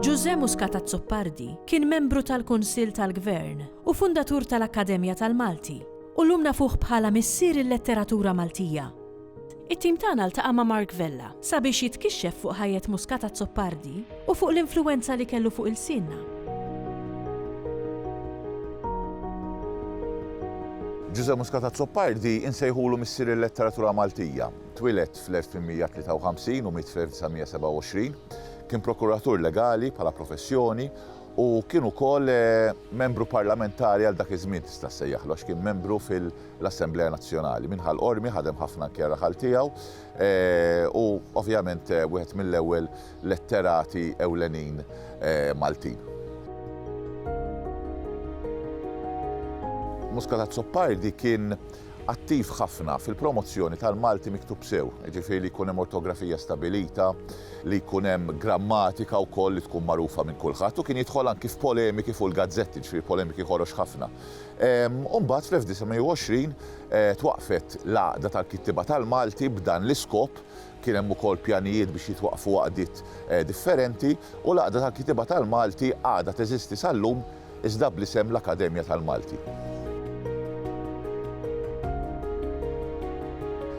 Ġużè Muscat Azzopardi kien membru tal-Kunsill tal-Gvern u fundatur tal-Akkademja tal-Malti u llum nafuh bħala missier il-letteratura Maltija. It-tim tagħna ltaqa' ma' Mark Vella sabiex jitkixxef fuq ħajjet Muscat Azzopardi u fuq l-influwenza li kellu fuq ilsienna. Ġużè Muscat Azzopardi insejħulu missier il-letteratura Maltija. Twieled fl-1853 u miet fl-1927. Kien prokuratur legali bħala professjoni u kien ukoll membru parlamentari għal dak iż-żmien tista' ssejjaħlu għax kien membru fil l-Assemblea Nazzjonali. Min ħal Qormi ħadem ħafna anke raħal tiegħu u ovvjament wieħed mill-ewwel letterati ewlenin Maltin. Muscat Azzopardi kien attiv ħafna fil-promozzjoni tal-Malti miktub sew, ġifiri li jkun hemm ortografija stabilita, li jkun hemm grammatika wkoll li tkun magħrufa minn kulħadd u kien jidħol anki f'polemiki fuq il-gazzetti, ġifiri polemiki ħorox ħafna. u mbagħad fl-1920 twaqqfet l-Għaqda tal-Kittieba tal-Malti b'dan l-iskop, kien hemm ukoll pjanijiet biex jitwaqqfu għaqdiet differenti, u l-Għaqda tal-Kittieba tal-Malti għadha teżisti sal-lum iżda bl-isem l-Akkademja tal-Malti.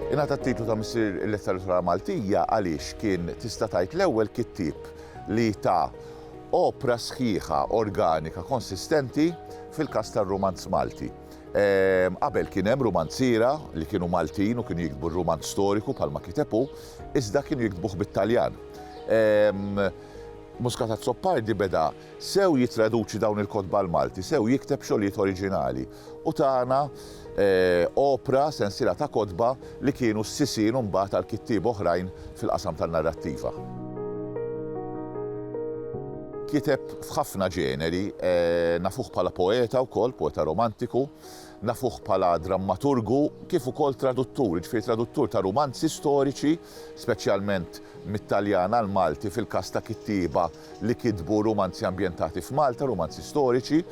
Ingħata t-titlu ta' Missier il-Letteratura Maltija għaliex kien tista' tgħid l-ewwel kittieb li ta Opra sħiħa, organika, konsistenti fil-każ tar-rumanz Malti. Ehm, qabel kien hemm rumanziera li kienu Maltin u kienu jiktbu r-rumanz storiku bħalma kiteb hu, iżda kienu jiktbuh bit-Taljan. Ehm, Muscat Zoppardi beda sew jitraduċi dawn il-kotba l-Malti, sew jikteb xogħlijiet oriġinali. u tana opra, sensiela ta' kotba, li kienu s-sisien imbagħad għal kittieba oħrajn fil-qasam tan-narrattiva. Kiteb f'ħafna ġeneri, nafuh bħala poeta wkoll, poeta romantiku, nafuh bħala drammaturgu kif ukoll traduttur, jiġifieri traduttur ta' rumanzi storiċi, speċjalment mit-Taljan għall-Malti fil-każ ta' kittieba li kitbu rumanzi ambjentati f'Malta, rumanzi storiċi.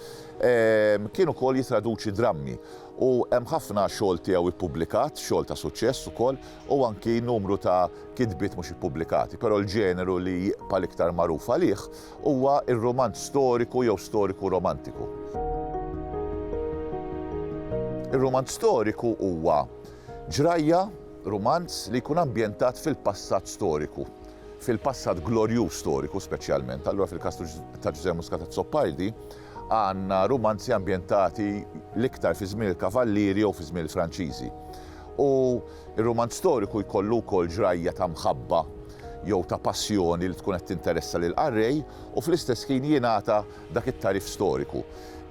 Kien ukoll jitraduċi drammi u hemm ħafna xogħol tiegħu ippubblikat, xogħol ta' suċċess ukoll, u anki numru ta' kitbiet mhux ippubblikati. Però l-ġeneru li jibqa' l-iktar magħruf għalih huwa r-rumanz storiku jew storiku romantiku. Ir-rumanz storiku huwa ġrajja, rumanz, li jkun ambjentat fil-passat storiku. fil-passat glorjuż storiku speċjalment, allura fil-każ ta' Ġużè Muscat Azzopardi għandna rumanzi ambjentati l-iktar fi żmien il-Kavallieri jew fi żmien il-Franċiżi. U r-rumanz storiku jkollu wkoll ġrajja ta' mħabba jew ta' passjoni li tkun qed tinteressa lill-qarrej u fl-istess ħin jingħata dak it-tagħrif storiku.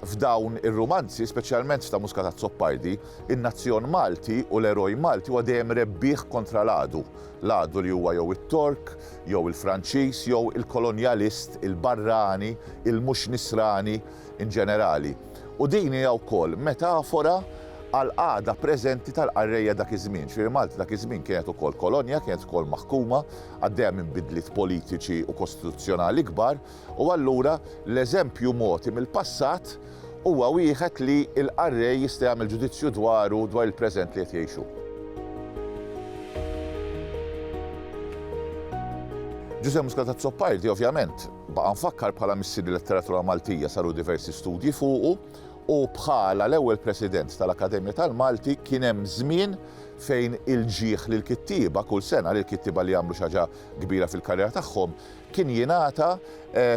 F'dawn ir-rumanzi, speċjalment f'ta' Muscat Azzopardi, in-nazzjon Malti u l-eroj Malti huwa dejjem rebbieħ kontra l-għadu, L-għadu li huwa jew it-Tork, jew il-Franċiż, jew il-kolonjalist, il-barrani, il-mhux Nisrani in ġenerali. U din hija wkoll metafora għall-qagħda preżenti tal-qarrejja dak iż-żmien. Ġifieri Malta dak iż-żmien kienet ukoll kolonja, kienet ukoll maħkuma, għaddejja minn bidliet politiċi u kostituzzjonali kbar, U allura l-eżempju mogħti mill-passat huwa wieħed li l-qarrej jista' jagħmel ġudizzju dwaru dwar il-preżent li qed jgħixu. Ġużè Muscat Azzopardi ovvjament baqa' mfakkar bħala missier il-letteratura Maltija saru diversi studji fuqu u bħala l-ewwel President tal-Akkademja tal-Malti kien hemm żmien fejn il-ġieħ lill-kittieba kull sena lill-kittieba li jagħmlu xi ħaġa kbira fil-karriera tagħhom kien jingħata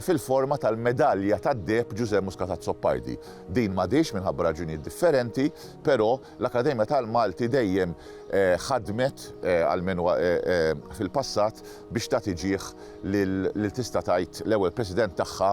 fil-forma tal-Medalja tad-Deheb Ġużè Muscat Azzopardi. Din m'għadhiex minħabba raġunijiet differenti, però l-Akkademja tal-Malti dejjem ħadmet, almenu fil-passat, biex tagħti ġieh lil tista' tgħid l-ewwel President tagħha,